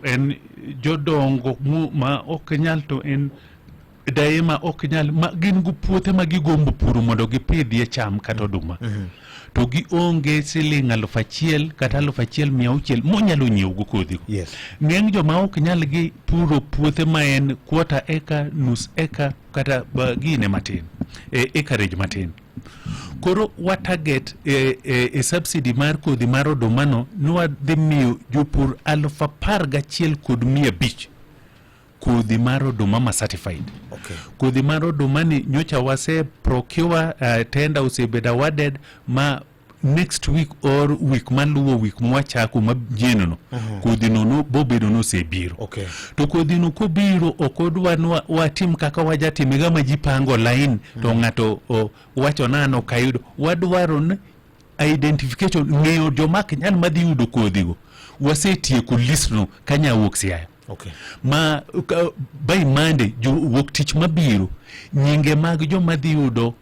en jodongo mu- ma ok nyal to en daye ma ok nyal ma gin gi puothe ma gigombo puro mondo gipidhie cham kata oduma to gionge siling aluf achiel kata aluf achiel mia auchiel monyalo nyiewogo kodhigo Yes. ng'eny joma ok nyal gi puro puothe ma en kuota eka nus eka kata ba- gine matin e, ekarage matin koro wa target e, e, e subsidy mar kodhi mar odomano nwadhi miyo jopur aluf apar gachiel kod mia abich kodhi mar oduma ma certified okay. kodhi mar oduma ni nyocha wase procure uh, tenda osebedo awarded ma next week or week maluwo week mwachako majienno mhm. kodhinono bobedo nosebiro okay. to kodhino kobiro ok odwa nwa watim kaka wajatime gama ji pango line mm -hmm. to mhm. ng'ato wacho nano kayudo wadwaro ni identification ng'eyo joma ok nyal madhi yudo kodhigo wasetieko listno ka nyawuok siaya okay. ma uh, by monday wuok tich mabiro nyinge mag joma dhi yudo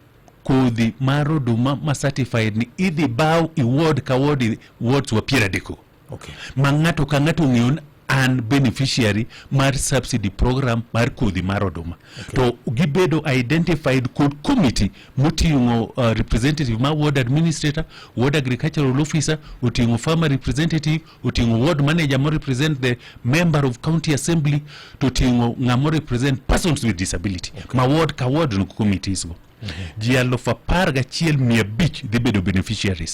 kodhi mar oduma ma certified ni idhi baw iward ka ward wards wa piero adeko okay. ma ng'ato ka ng'ato ong'eyo ni an beneficiary mar subsidy program mar kodhi mar oduma okay. to gibedo identified kod committee moting'o uh, representative ma ward administrator ward agricultural officer oting'o farmer representative oting'o ward manager mo represent the member of county assembly to oting'o ng'amo represent persons with disability okay. ma ward ka ward no committees go mm -hmm. ji aluf apar gachiel mia abich dhi bedo beneficiaries